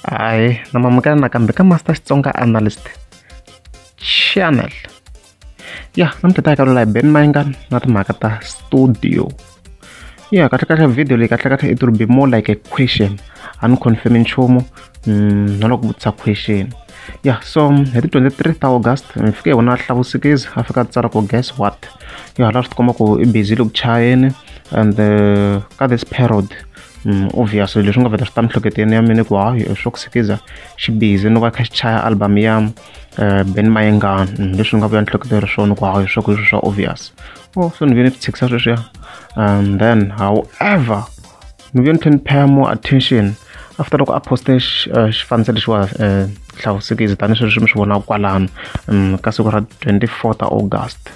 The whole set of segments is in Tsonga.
Hi, namamukela nakambe ka Master Xitsonga Analyst Channel. Ya, namuntlha ta hi kalula hi Ben Mainga na timhaka ta studio. Ya, kahle kahle video leyi kahle kahle it will be more like a question. A ni confirm nchumu, Mm, na loko vutisa question ya yeah, so hi ti 23 ta august mi fike hi vona hlavusikizi a fika tsara ku guess what yo hala swi tikomba ku i busy loku chayeni and uh, ka this period um, obviously leswi nga veta swi ta mihleketeni ya mina ku hayi swo ku sikiza xi busy no va kha xi chaya album ya uh, ben mayengani um, leswi ni nga vuya nihleketela ri swona ku hayi swa ku swa obvious o oh, so ni ve ni swi tshikisa sweswiya and then however ni vuye ni tlhe ni pay more attention after loko a poste uh, xifaniso lexiwa uh, hlavusekisi tani sweswi mi swi vonaka kwalano um ka siku ra 24 ta august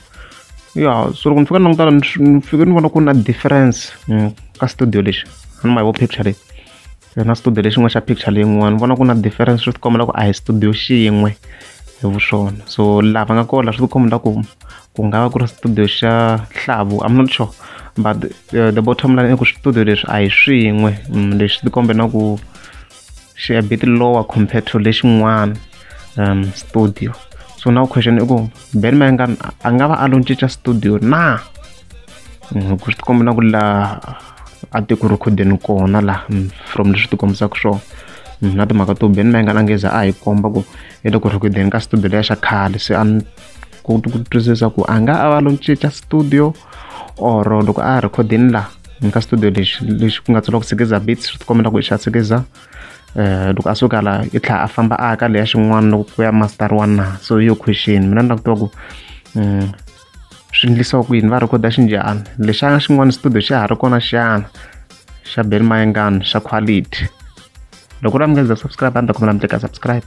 ya so loko ni fika ni langutana ni fike ni vona ku na difference um, ka studio lexi a ni ma yivo picture leyi na studio lexin'wana xa picture leyin'wana ni vona ku na difference swi ti kombela ku a hi studio xin'we hi vu swona so lava nga kona swi ti kombela ku ku nga va ku ri studio xa hlavu i'm not sure but the, uh, the bottom line i ku switudio leswi a hi swin'we mm, leswi ti kombe na ku xi a bit lower compared to lexin'wana um studio so now question i ku ben mayengan a nga va a lo cinca studio na mm, ku swi tikombe na ku laha a ti ku rhekhodeni kona laha mm, from leswi ti kombisaka swona na timhaka to ben mayengan a ngeza a hi komba ku i le ku rhekhodeni ka studio leya xa khale se a ku twisisa ku a nga a va lo cinca studio or loko a ha rhekhodini laha ni ka studio lexi lexi ku nga tsala ku sikiza beats swi tikomela ku i xa sikiza Eh, loko a suka la i tlhela a famba a ka leya xin'wana loko ku ya master one na so yo question mina ni lava ku tiva ku mm, swi endlisiwa ku yini va rhekhoda xinjhani lexana xin'wana studio xa ha ri kona xana xa beni mayengani xa quality loko u ri subscribe a ni ta khomela mi teka subscribe